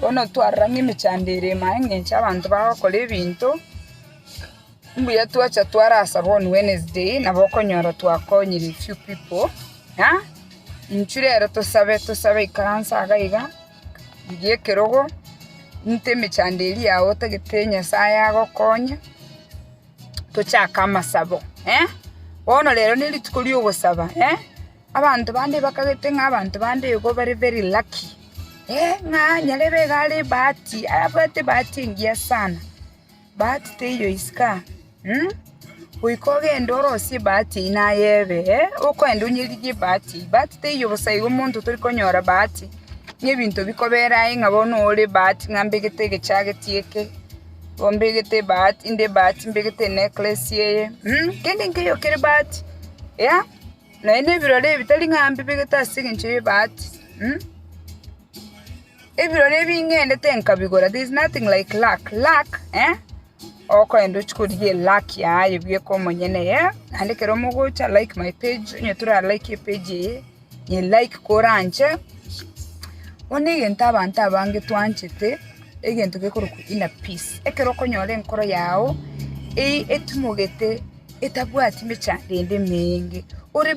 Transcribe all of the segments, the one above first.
Bono twarora ng'a emechando ere ime aye ng'a enche abanto bagokora ebinto, mbuya twacha twarasaba on Wednesday nabo okonyora twakonyire a few people ng'a intwe rero tosabe tosabe ikaranse iga iga rigia ekerogo nte emechando eria yago otagete Nyasaye agokonye, tochake amasabo bono rero nerituko riogosaba. Abanto bande bakagete ng'a abanto bande igo bare very lucky, ng'a nyarebe iga are ebahati, abwate ebahati engiya sana. Bahati teiyo isiko aa, goika ogende orosie ebahati eywo naye ebe, okoenda onyeriri ebahati eywo, ebahati teiyo bosa igo omonto tori konyora bahati, n'ebinto bikobera aye ng'a bono ore bahati ng'a mbegete egechageti eke, oo mbegete ebahati, inde ebahati mbegete enecklace eye, kende nkeiyo kere bahati, yea. Naende ebirori ebitari ng'a mbibegete ase engencho y'ebaati, um, ebirori ebi ng'endete nkabigora, there is nothing like luck, luck, eh, okoenda ochia korigia eluck yaye bweka omonyene, yeah, naende ekero mogocha like my page, onye toralaike epage eye, nyi like kore anche, bono egento abanto abange twanchete, egento gekorokwa inner peace, ekero okonyora enkoro yago, eye etimogete. etabwati mechando ende emenge, ore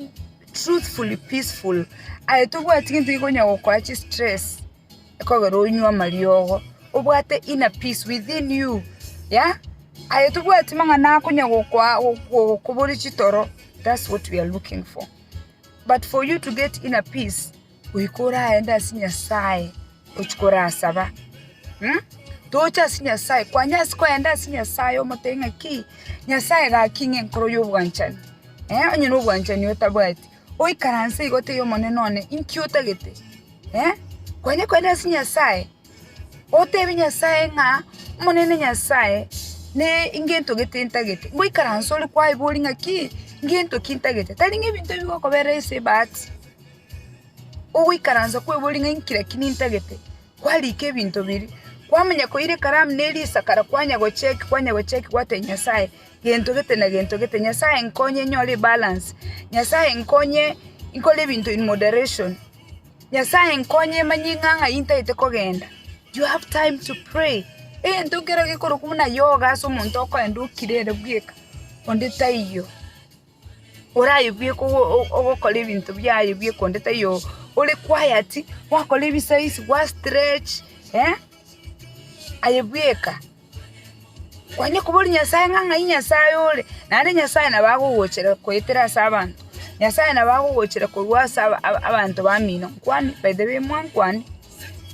truthfully peaceful, aye tobwati gento gekonya gokoa chistress ekogera onywe amariogo, obwate inner peace within you, yea, aye tobwati mang'ana akonya gokoa gokokoboria chitoro, that's what we are looking for, but for you to get inner peace. goika oraende ase Nyasaye ochia korasaba. Tocha ase Nyasaye, kwanya ase koenda ase Nyasaye omotebi ng'a ki, Nyasaye gaki ng'a enkoro y'obwanchani, onye na obwanchani otabwati, oikaranse iga otebia Omonene one, inki otagete? Kwanya koenda ase Nyasaye, otebi Nyasaye ng'a Omonene Nyasaye, ne ngento gete ntagete, ngoikaransa ore kwaibori ng'a ki, ngento ki ntagete, tari ng'a ebinto bigokobera ase ebahati. Ogoikaransa kw'ebori ng'a inkire ki nintagete, kwariika ebinto biria. Kwamanya koira ekaramu ne risakara kwanya gocheki kwanya gocheki gwatebi Nyasaye, gento gete na gento gete. Nyasaye nkonye nyore ebalance, Nyasaye nkonye nkore ebinto in moderation, Nyasaye nkonye manye ng'a ng'ai ntagete kogenda. You have time to pray, egento kero gekorokwa buna yoga ase omonto okoenda okirere bweka, onde taiyo. orayebue ogokora ebinto biaye bie ekonde taiyo ore quiet gwakora ebisaisi gwa stretch aye bweka kwanye kobori nyasaye ng'a ng'ai nyasaye ore naende nyasaye nabo agogochera goetera ase abanto nyasaye nabo agogochera korwa ase abanto bamino nkwani by the way mwankwane.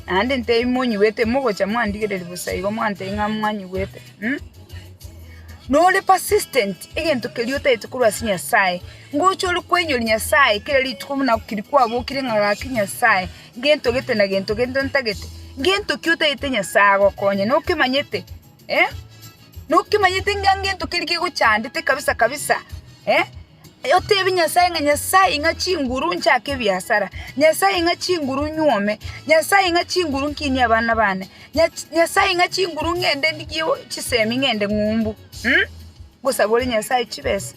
Naende intee imonyigwete, imogocha mwandigereria bosa igo mwantebia ng'a mwanyigwete, mh, nore persistent egento keria otagete korwa ase Nyasaye, ngocha ore koinyoria Nyasaye kera rituko buna keri kwabokire ng'a gaki Nyasaye, gento gete na gento gento ntagete, gento ki otagete Nyasaye agokonye nokemanyete, eh, nokemanyete ng'a gento keria kegochandete kabisa kabisa, eh. Otebie Nyasae ng'a Nyasae ing'a chinguru nchake ebiasara, Nyasae ing'a chinguru nyuome, Nyasae ing'a chinguru nkinie abana bane, Nyasae ing'a chinguru ng'ende ndigie chisemi ng'ende ng'umbu. Ngosabore Nyasae chibesa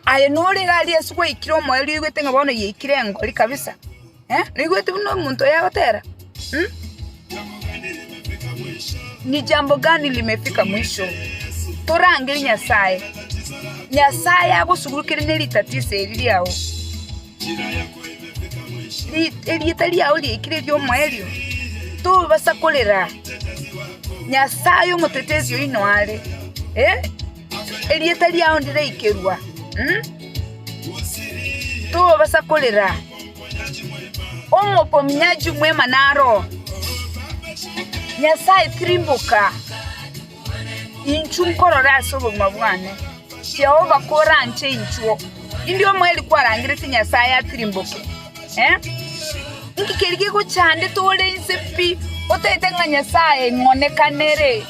aye nore iga aria ase gwaikire omoerio oigwete ng'a bono yaikire engori kabisa. Naigwete buna omonto oye agotera, Ni jambo gani limefika mwisho? Torangere Nyasae. Nyasae agosugurukere ne ritatiso eri riao. Erieta riao riaikire eriomoerio, tobasa korera. Nyasae omotetezi oino are. Erieta riao ndiraikerwa, tobasa korera. Omokominyachi omwema naro oo. Nyasae, tirimboka, inchuo nkorore ase obogima bwane. Jehova koranche inchuo, indi omweri kwarangereti Nyasae atirimboke. Inki keria gegochandete ore inse pi, otaete ng'a Nyasae ng'onekanere?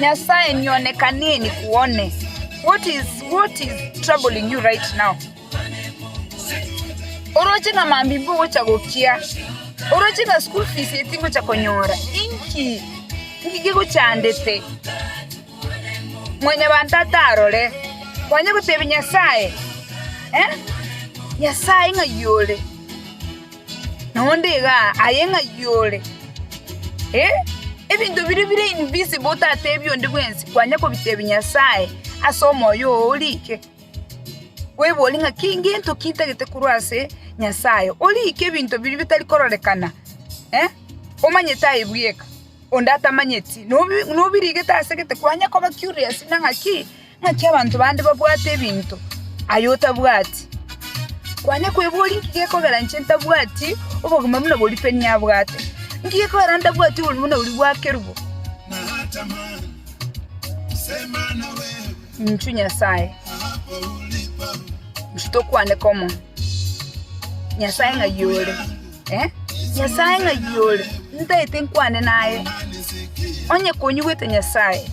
Nyasae nionekanie nikuone. What is troubling you right now? Oroche ng'a mambimba ogocha gokia? Oroche ng'a school fees etingocha konyora? Inki? Inki gegochandete? Mwanyabanto atarore, kwanyia gotebia Nyasae, Nyasae ng'ai ore? Na onde iga aye ng'ai ore? Ebinto biria bire invisible otatebia onde bwensi kwanyia kobitebia Nyasae ase omoyo oo orike. Kweborie ng'a ki gento ki ntagete korwa ase Nyasae, orike ebinto biria bitari kororekana, omanyete aye bweka. Onde atamanyeti, nobirigete ase gete, kwanye koba curious na ng'aki ng'aki abanto bande babwate ebinto, aye otabwati. Kwanye kweboria inki gekogera inche ntabwati obogima buna boria Penina abwate? Inki gekogera ntabwati oboruoti buna boria bwa Kerubo? Inchuo Nyasae, inchuo tokwane komo, Nyasae ng'ai ore? Nyasae ng'ai ore, ntaete nkwane naye? Onye konyigwete Nyasae,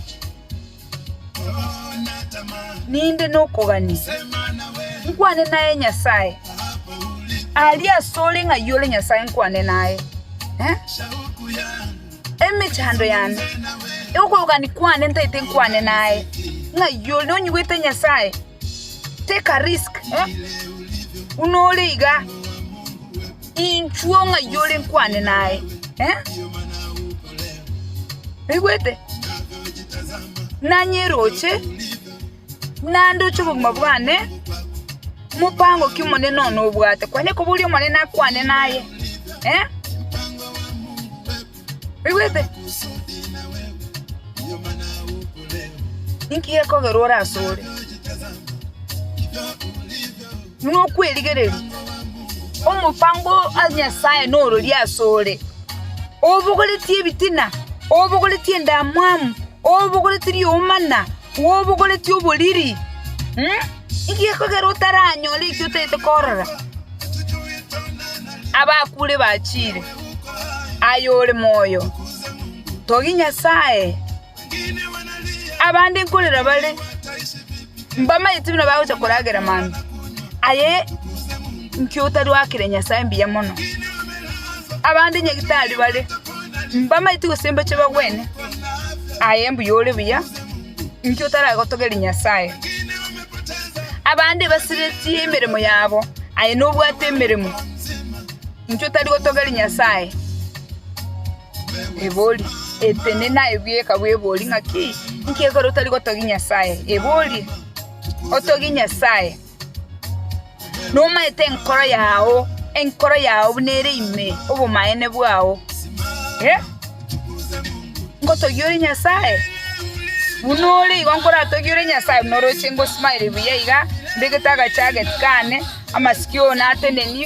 ninde nokogania, nkwane naye Nyasae. Aria asore ng'ai ore Nyasae nkwane naye. Emechando yane, okogania kwane ntaete nkwane naye, ng'ai ore, nonyigwete Nyasae. Teka risk eh buna ore iga inchuo ng'ai ore nkwane naye eh oigwete? Nanye roche nandoche obogima bwane mopango ki omonene one obwate kwane koboria omonene akwane naye eh. Oigwete? Ninki gekogerwa ore asore? Buna okwerigereria. Omopango o Nyasae nororia asore. Obogoretie ebitina, obogoretie endamwamu, obogoretie riomana, obogoretie oboriri. Ninki gekogerwa otaranyore ekio otagete korora? Abakure bachire. ayore moyo, togi Nyasae. Abande nkorera bare mbamaete buna bagocha koragera mambia, aye inki otarwakire Nyasae mbuya mono? Abande nyagitari bare mbamaete gose mbache bagwene, aye mbuya ore buya, inki otaragotogeria Nyasae? Abande basiretie emeremo yabo, aye nobwate emeremo. Intwe tari gotogeri Nyasae ebori, eteni naye bweka bwebori ng'aki? Inki ekero otari gotogia Nyasae ebori? Otogie Nyasae nomaete enkoro yao, enkoro yao buna ere ime obomaene bwao. Eh, ngotogia ore Nyasae? Buna ore igo nkoratogie ore Nyasae buna oroche ngosmile buya iga, mbegete agachageti kane, amasikio one ateneni.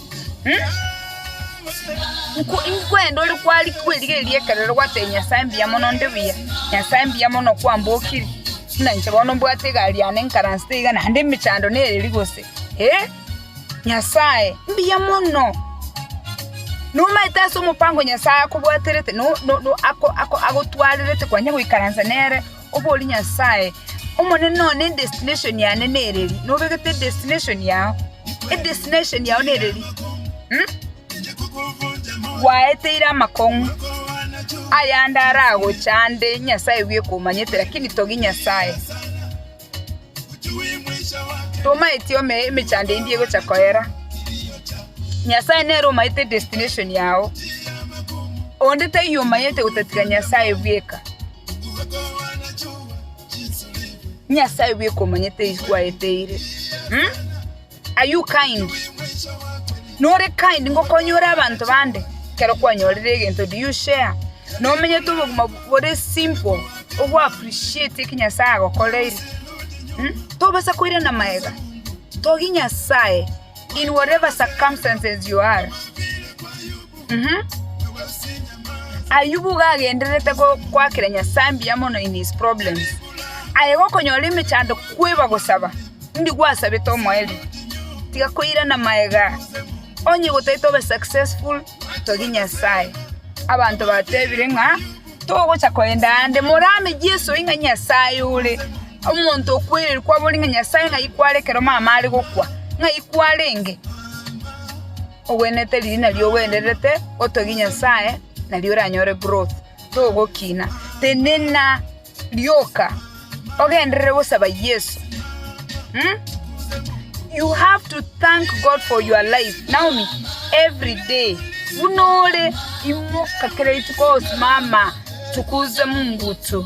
Nkwenda ore kwari kwerigereria ri'ekerero gwatebia Nyasae mbuya mono onde buya, Nyasae mbuya mono kwambokiri, buna inche bono mbwate egari yane nkaransete iga naende emechando nereri gose eh, Nyasae mbuya mono. Nomaete ase omopango Nyasae akobwaterete, agotwarerete kwanya goikaransa nere. Oborie Nyasae, Omonene one edestination yane nereri? Nobegete edestination yao? Edestination yao nereri? Hm? Gwaeteire amakong'u ayande aragoche ande Nyasae bwe komanyete lakini togi Nyasae. Tomaeti ome emechando endi egocha koera. Nyasae nere omaete edestination yao. Onde taiyo omanyete gotatiga Nyasae bweka. Nyasae oye komanyete eye kwaeteire um are you kind nore kind ngokonye ore abanto bande ekero kwanyorire egento do you share nomenyete obogima bore simple ogo appreciate eki nyasae agokoreire um tobasa koirana maega togie nyasae in whatever circumstances you are. Ayubu iga agendererete goakera Nyasae mbuya mono in his problems. Aye gokonyora emechando kweba gosaba, mbi gwasabete omoerio. Tiga koirana magega, onye gotaete obe successful, togia Nyasae. Abanto batebire ng'a togocha kogenda aande, morame Yeso ing'a Nyasae ore, omonto okwereirwe kwabori ng'a Nyasae ng'ai kware ekero mama are gokwa, ng'ai kwarenge. Ogwenerete riria nario ogwenerete otogie Nyasae nario oranyore growth togokina. Tenena rioka ogenderere gosaba Yeso um you have to thank God for your life Naomi everyday buna ore imoka kera rituko osimama tukuze mungu tu.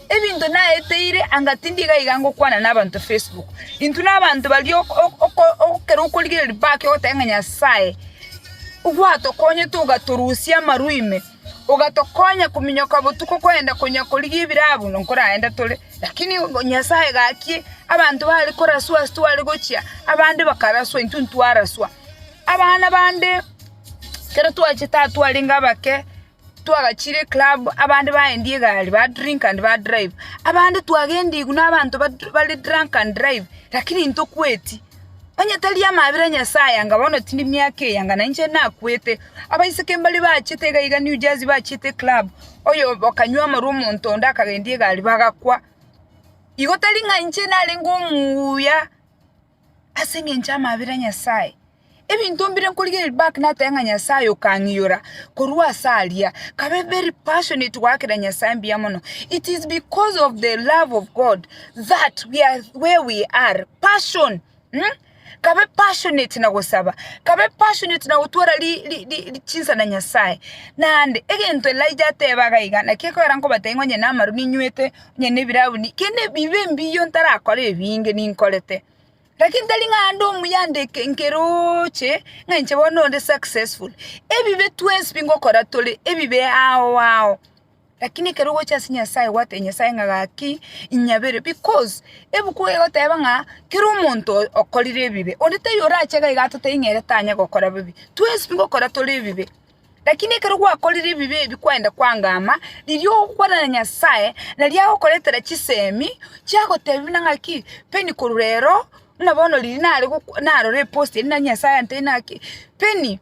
Ebinto naeteire anga tindiga iga ngokwana nabanto Facebook. Intwe nabanto baria ekero okorigereria bake ogoteba ng'a Nyasae gwatokonyete ogatorusia amarwa ime, ogatokonya kominyoka botuko kogenda konya korigia ebiro abwo na nkoragenda tore. Lakini Nyasae gaki abanto bare koraswa ase tware gochia, abande bakaraswa intwe ntwaraswa. Abana bande ekero twachete twarenge abake. Twagachire eclub abande baendi egari ba drink and ba drive abande twagendigwe nabanto bare drunk and drive lakini ntokweti onye tari amabera a nyasaye anga bono tindi miaka eye anga nainche nakwete abaiseke mbare bachete iga iga new jersey bachete eclub oyo bakanywa amarwa omonto onde akagendia egari bagakwa igo tari ng'a inche narenge omuuya. Ase engencho y'amabera a Nyasae, ebinto mbire nkorigereria Ribak nateba ng'a Nyasae okang'iyora korwa ase aria, kabe very passionate goakera Nyasae mbuya mono. It is because of the love of God that we are where we are. Passion, mh? Kabe passionate na gosaba, kabe passionate na gotwara ri- ri- ri- ri- chinsa na Nyasae. Naende egento Elijah ateba iga iga, naki ekogera nkobatebi ng'a onye namaru ninywete onye nebirauni, kende bibe mbiya ntarakore ebinge ninkorete, lakini tari ng'a ande omuya ande eke nkerooche ng'a inche bono onde successful. Ebibe twensi bingokora tore ebibe ao ao, lakini ekero ogocha ase Nyasaye gwatebi Nyasaye ng'a gaki inyabere bikos, ebuku egoteba ng'a kera omonto okorire ebibe, onde taiyo orache iga iga atotebi ng'a ere tanya gokora bibe, twensi bingokora tore ebibe. Lakini ekero gwakorire ebibe ebi kwaenda kwangama, riria ogokwana na Nyasae, nario agokoretera chisemi chiagotebia buna ng'aki, Penny korwa rero, buna bono riria nare gokwa narora epost eria nario Nyasae antebia buna ng'aki, Penny,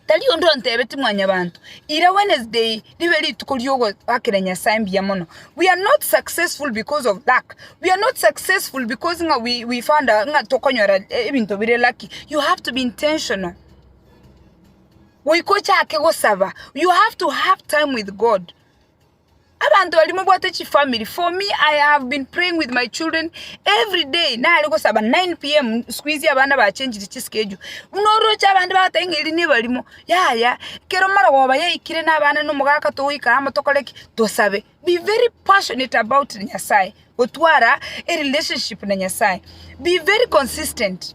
tari onde ontebeti mwanyabanto, ira Wednesday ribe rituko riogoakera Nyasae mbuya mono, we are not successful because of luck, we are not successful because ng'a we we found out ng'a tokonyora ebinto bire lucky, you have to be intentional. Goika ochake gosaba, you have to have time with God. Abanto baria mobwate chifamiri, for me I have been praying with my children every day, nare gosaba 9 pm sikuizi abana bachenjiri chiskeju, buna oroche abande bagotebi ng'a eria nebarimo, yaya kero marogoba yaikire na abana na omogaka togoikara amo tokore ki? Tosabe. Be very passionate about Nyasaye, gotwara erelationship na Nyasaye, be very consistent,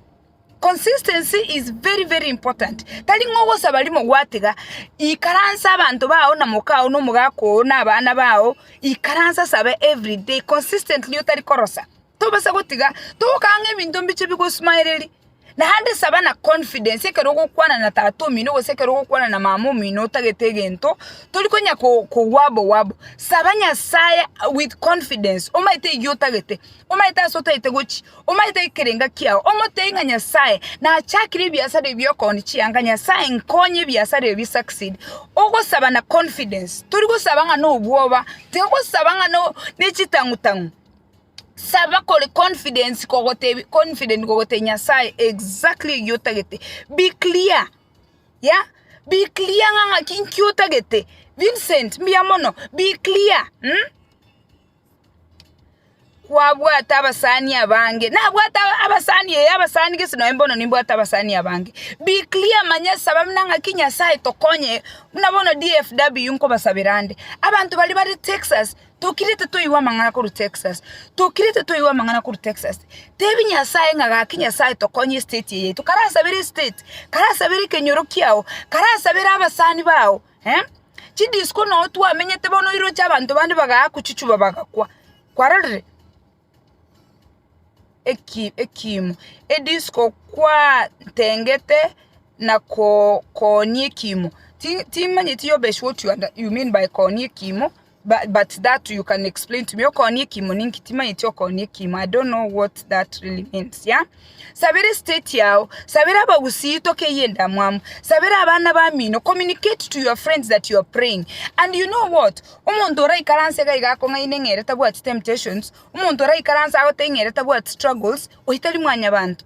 Consistency is very very important, tari ng'a ogosaba rimo gwatiga, ikaransa abanto bao na moka oo na omogaka oo na abana bao, ikaransa saba every day consistently otari korosa, tobasa gotiga togokana ng'a ebinto mbiche bigosmaereri, naende saba na confidence ekero ogokwana na tata omino gose ekero ogokwana na mama omino otagete egento, tori konya kogwa abwo gwa abwo, saba Nyasaye with confidence omanyete eyiotagete. omaete ase otaete gochi, omaete ekerenga kiao, omotebie ng'a Nyasaye, nachakire ebiasara ebi okoni chianga, Nyasaye nkonye ebiasara ebi bi succeed, ogosaba na confidence, tori gosaba ng'a nobwoba, tiga gosaba ng'a no nechitang'u tang'u, saba kore confidence kogotebia confident kogotebia Nyasaye exactly egia otagete, be clear, yea, be clear ng'a ng'aki nki otagete, Vincent, mbuya mono, be clear mh. kwabwate abasani abange nabwate aba- abasani ee abasani gese nonye mbono nimbwate abasani abange be clear manya saba buna ng'aki nyasaye tokonye buna bono DFW nkobasabera ande abanto baria bare texas tokirete toigwe amang'ana korwa texas tokirete toigwe amang'ana korwa texas tebi nyasaye ng'a gaki nyasaye tokonye estate eye yaito karasabere estate karasabere ekenyoro kiago karasabere abasani bago. Eh, chidisco nao twamenyete bono oiroche abanto bande bagaa kochichuba bagakwa. Kwarorire? Eki ekiimo, edisco kwaa tengete na koo koonia ekiimo. Ti timanyeti yobe sure what you under you mean by koonia ekiimo. But but that you can explain to me okoonia ekiimo ninki timanyeti okoonia ekiimo I don't know what that really means yeah sabera estate yao sabera abagusii tokeyie endamwamu sabera abana bamino communicate to your friends that you are praying and you know what omonto oraikaranse iga iga akong'aine ng'a ere tabwati temptations omonto oraikaranse agotebi ng'a ere tabwati struggles oyio tari mwanyabanto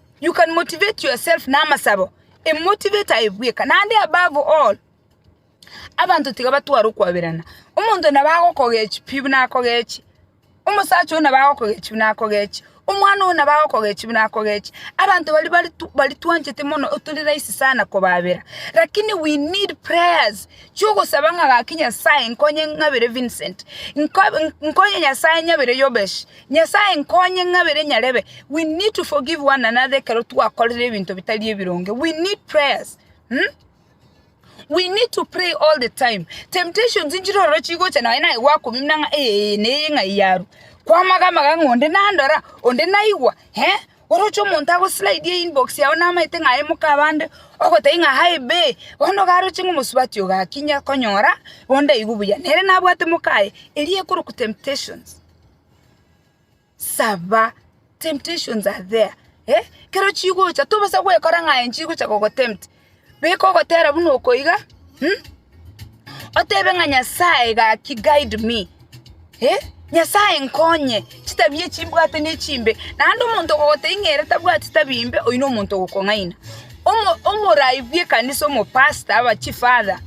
You can motivate yourself na amasabo, a motivate aye bweka, naende above all, abanto tiga batware okwaberana. Omonto nabo agokogechia pi buna akogechie, omosacha oyio nabo agokogechia buna akogechie, omwana oyio nabo agokogechia buna akogechie, abanto baria bari baria twanchete mono tori rahisi sana kobabera, lakini we need prayers, chiogosaba ng'a gaki Nyasaye nkonye ng'abere Vincent, nko nkonye Nyasaye nyabere Yobesh. Nyasae nkonye ng'abere nyarebe we need to forgive one another ekero twakorire ebinto bitari ebironge we need prayers um we need to pray all the time temptations nchire ororo chigocha nonye naye gwakomimia ng'a eeh na eye ng'ai yarwa kwamaga amaga ng'a onde nandora onde naigwa eh oroche omonto agoslidie inbox yago namaete ng'a aye moka abande ogotebia ng'a hi bae bono igaroche ng'a omosubati oyo gaki inya konyora bono ndaigu buya nere nabwate moka aye eria ekorokwa temptations. Saba, temptations are there eh, ekero chigocha tobasa gwekora ng'a aye nchigocha gogotempt, beka ogotera buna oko iga, um otebe ng'a Nyasaye gaki guide me, eh, Nyasaye nkonye, chitabia echi mbwate nechimbe, naende omonto okogotebia ng'a ere tabwati tabia imbe, oyio nomonto ogokong'aina. Omo omorai bw'ekanisa omopastor, abachief father.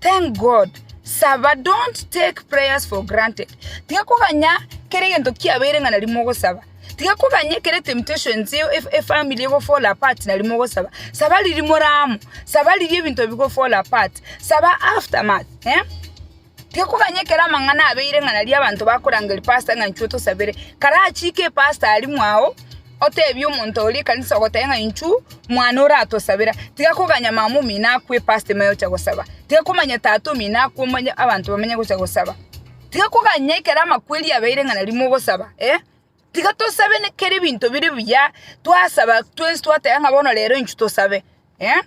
Thank God, saba, don't take prayers for granted. Tiga koganya kera egento kiabeire ng'a nari mogosaba. Tiga koganya ekero etemptations eo ef- efamily ego fall apart nari mogosaba. Saba riria more amo, saba riria ebinto bigo fall apart, saba aftermath, eh? Tiga koganya ekero amang'ana abeire ng'a nari abanto bakorangeria pastor ng'a inchwo tosabere, karachiike epastor aria mwao, Otebie omonto oria ekanisa ogotebia ng'a inchu mwane oratosabera, tiga koganya mama omino akwe epasta ime oche gosaba, tiga komanya tata omino akwe omanye abanto bamenye gocha gosaba, tiga koganya ekero amakweri abeire ng'a nari mogosaba, tiga tosabe ne kera ebinto bire buya, twasaba twensi twateba ng'a bono rero inchu tosabe. eh,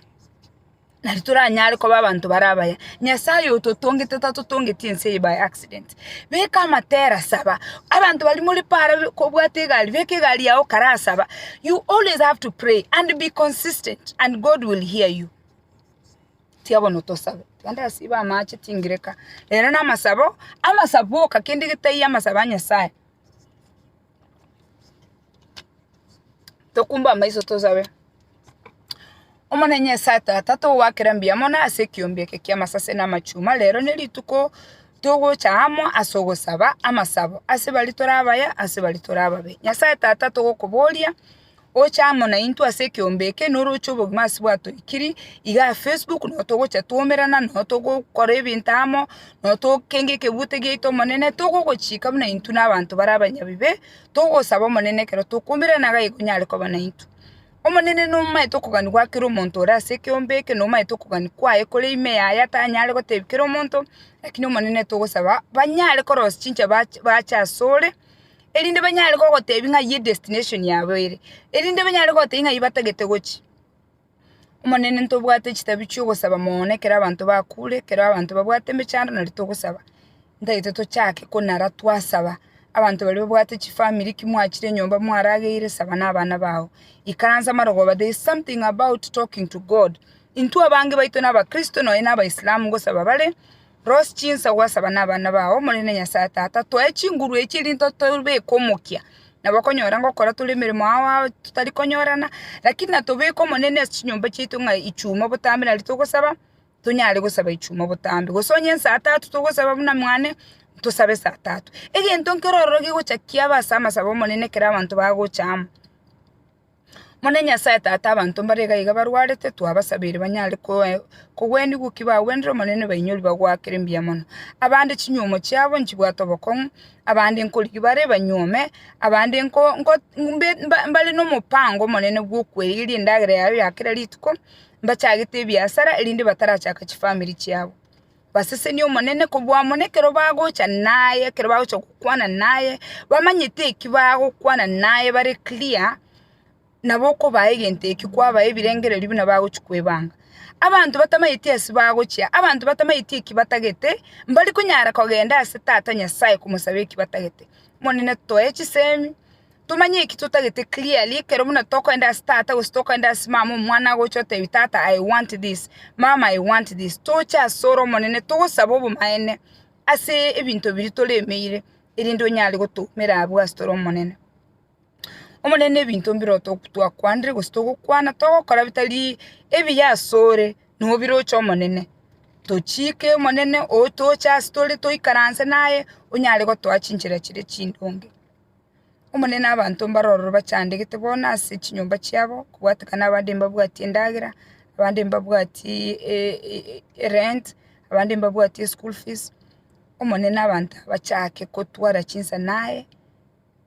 nari toranyare koba abanto bare abaya. Nyasae oyototongete tatotongeti ense eye by accident. Beka amatera, saba. Abanto baria more paara be- kobwata egari, beka egari yago karaa saba. You always have to pray and be consistent and God will hear you. Tiga bono tosabe. Tugende ase ibe amache tingireka. Rero namasabo, amasabo boka kende getaiyo amasabo a Nyasae. Tokumbe amaiso tosabe. Omonene Nyasae Tata, togoakera mbuya mono ase ekiombe eke ki'amasase na amachuma. Rero nerituko togocha amo ase ogosaba amasabo ase baria tore abaya, ase baria tore ababe. Nyasae Tata, togokoboria oche amo naintwe ase ekeombe eke noroche obogima ase bwatoikiri iga Facebook nabo togocha twaumerana nabo togokora ebinto amo nabo togokenga ekebuto giaito omonene togogochika buna intwe na abanto bare abanyabibe togosaba omonene ekero tokoumerana iga igo onyare koba naintwe. Omonene nomomaete okogania gwa kera omonto ore ase ekeombe eke nomomaete okogania kwaye kore ime yaye atanyare gotebi kera omonto lakini omonene togosaba banyare korosia chinsa bache bache asore erinde banyare kogotebia ng'ai edestination yabo ere, erinde banyare kogotebia ng'ai batagete gochia. Omonene ntobwate chitabia chi'ogosaba mono na ekero abanto bakure, ekero abanto babwate emechando nari togosaba, ntagete tochake konara twasaba, abanto baria babwate chifamiri ki mwachire nyomba mwarageire saba na abana bao, ikaransa amarogoba, there is something about talking to God. Intwe abange baito na abakristo nonya na abaisalamu ngosaba bare. Rosie chinsa gwasaba nabana bao, Omonene Nyasae Tata, toe chinguru echi erinde otobeke omokia. Nabokonyora ngokora tore emeremo ao ao totari konyorana, lakini natobeke Omonene ase chinyomba chiaito ng'a ichuma obotambe nario togosaba, tonyare gosaba ichuma obotambe. Gose onye ensa tatu togosaba buna mwane, tosabe ensa tatu. Egento nkero ororo gegocha kiaba ase amasabo 'Omonene ekero abanto bagocha amo. Monene Nyasae Tata, abanto mbare iga iga barwarete, twabasabeire banyare kogwenigwa ki bagwenire Omonene bainyori bagoakere mbuya mono. Abande chinyuomo chiabo nchibwate obokong'u, abande nkorigia bare banyuome, abande mbare nomobaango omonene bw'okwerigeria endagera yaye ya kera rituko, mbachagete ebiasara, erinde batarachaka chifamiri chiabo. Basesenie Omonene kobua amo nekero bagocha naye, ekero bagocha gokwana naye, bamanyete eki bagokwana naye bare clear, nabo okobaha egento ekio kwabaha ebirengererio buna bagochia kwebanga. Abanto batamanyeti ase bagochia, abanto batamanyeti eki batagete, mbari konyara kogenda ase Tata Nyasaye komosaba eki batagete. Omonene toe chisemi. Tomanye eki totagete clearly, ekero buna tokoenda ase tata gose tokoenda ase mama omwana agocha otebia tata I want this, mama I want this, toche asore omonene togosaba obomaene ase ebinto biria toremeire erinde onyare gotoumera abwo ase tore omonene. Omonene ebinto mbire twakwanire gose togokwana togokora bitari ebiya asore nobiroche omonene, tochiike omonene toche ase tore toikaranse naye onyare gotoa chinchera chire chindonge. Omonene abanto mbare ororo bachandegete bono ase chinyomba chiabo, kobwatekana abande mbabwati endagera, abande mbabwati erent, abande mbabwati eschool fees, Omonene abanto aba bachake kotwara chinsa naye,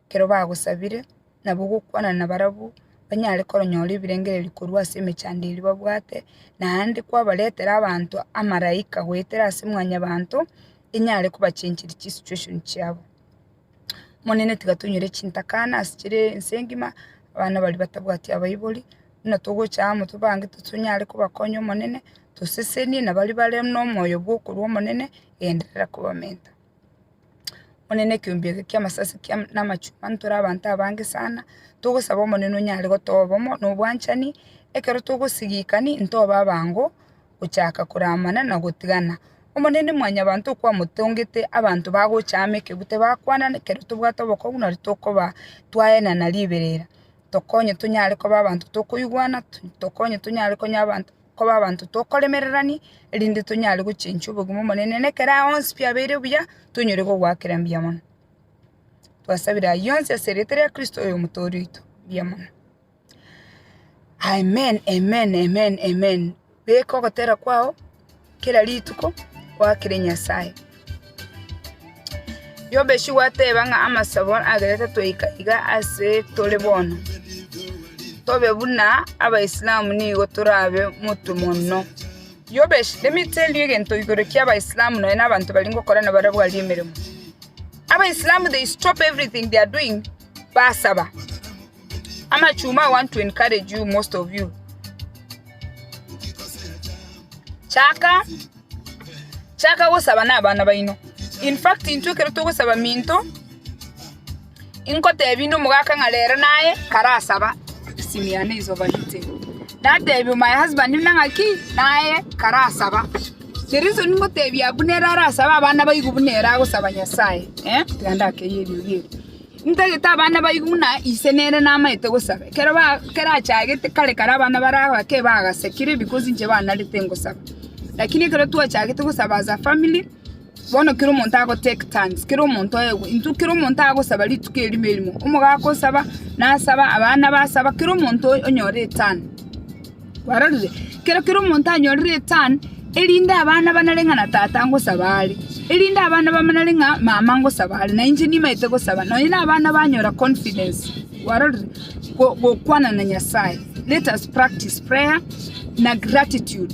ekero bagosabire, nabo ogokwana nabarabwo, banyare koronyora ebirengererio korwa ase emechando eria babwate, naende kwabaretera abanto amaraika goetera ase mwanyabanto, enyare kobachenchiri chisitueshon chiabo. Omonene tiga tonyore chintakana ase chire ense ngima, abana baria batabwati abaibori, buna togocha amo tobange tonyare kobakonya Omonene, tosesenie na baria bare nomoyo bwokorua Omonene, genderera kobamenta. Omonene ekeombe eke ki'amasasi ki'ama na amachuma ntore abanto abange sana, togosaba Omonene onyare gotoa obomo na obwanchani, ekero togosigikani ntobe abango, gochaka koramana na gotigana. Omonene Mwanyabaanto okwamotongete, abanto bagocha amo ekegwe tibakwana, ekero tobwate obokongu nari tokoba twaenana riberera. Tokonye tonyare koba abanto tokoigwana, tokonye tonyare konya abanto koba abanto tokoremererania, erinde tonyare gochenchwa obogima Omonene na ekero aya onsi biabeire buya, tonyore kogoakera mbuya mono. Twasabire ayio onsi ase erieta ria Kristo oyo Omotooria oito. Mbuya mono. Amen, amen, amen, amen, beka ogotera kwao kera rituko gwakere Nyasaye. Yobeshi gwateba ng'a amasabo agerete toika iga ase tore bono, tobe buna abaisilamu nigo torabe motwe monno. Yobeshi, let me tell you egento igoro kia abaisilamu nonye na abanto baria ngokora nabo arabwo aria emeremo. Abaisilamu they stop everything they are doing basaba. Amachuma, I want to encourage you most of you. Chaka chaka gosaba na abana baino. In fact intwe ekero togosaba minto inkotebia inde omogaka ng'a rero naye karasaba esimi yane is overheating. Natebia my husband buna ng'a ki naye karasaba. The reason ngotebia abwo nere arasaba abana baigu buna ere agosaba Nyasaye eh tiga ndakeyie erio rieri. Ntagete abana baigu buna ise nere namaete gosaba. Ekero kerachagete kare kare abana baria abake bagasekire because inche banarete ngosaba. Lakini ekero twachagete gosaba as a family, bono kera omonto ago take turns, kera omonto oegwe. Intwe kera omonto agosaba rituko erimo erimo. Omogaka osaba, nasaba, abana basaba, kera omonto onyore eturn. Kwarorire, kera kera omonto anyore return, erinde abana banare ng'a na tata ngosaba are, erinde abana bamanare ng'a mama ngosaba are, na inche nimaete gosaba, nonya na abana banyora confidence, kwarorire, go- gokwana na Nyasaye. Let us practice prayer na gratitude.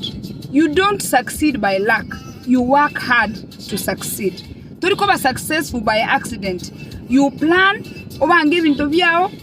You don't succeed by luck, you work hard to succeed. Tori koba successful by accident, you plan, obange ebinto biao,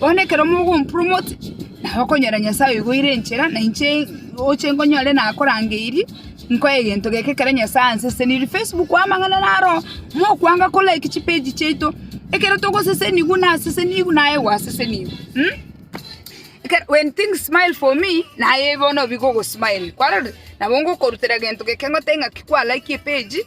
Bono ekero mogompura omote, nabo okonyora Nyasae oigoire enchera, na inche oche nkonyore nakorangeirie, nkoe egento geke ekero Nyasae ansesenirie. Facebook amang'ana naro, mokwanga ko like chipage chiaito, ekero togosesenigwa nasesenigwe naye gwasesenigwe mh. Ekero when things smile for me naye bono bigogo smile kwarorire? Nabo ngokorutera egento geke ngotebie ng'aki kwa like epage.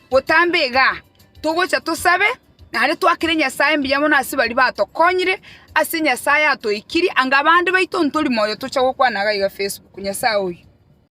Botambe iga, togocha tosabe, naende twakere Nyasae mbuya mono ase baria batokonyire, ase Nyasae atoikirie, anga abande baito ntori moyo tocha gokwana gaiga Facebook, Nyasae oyo.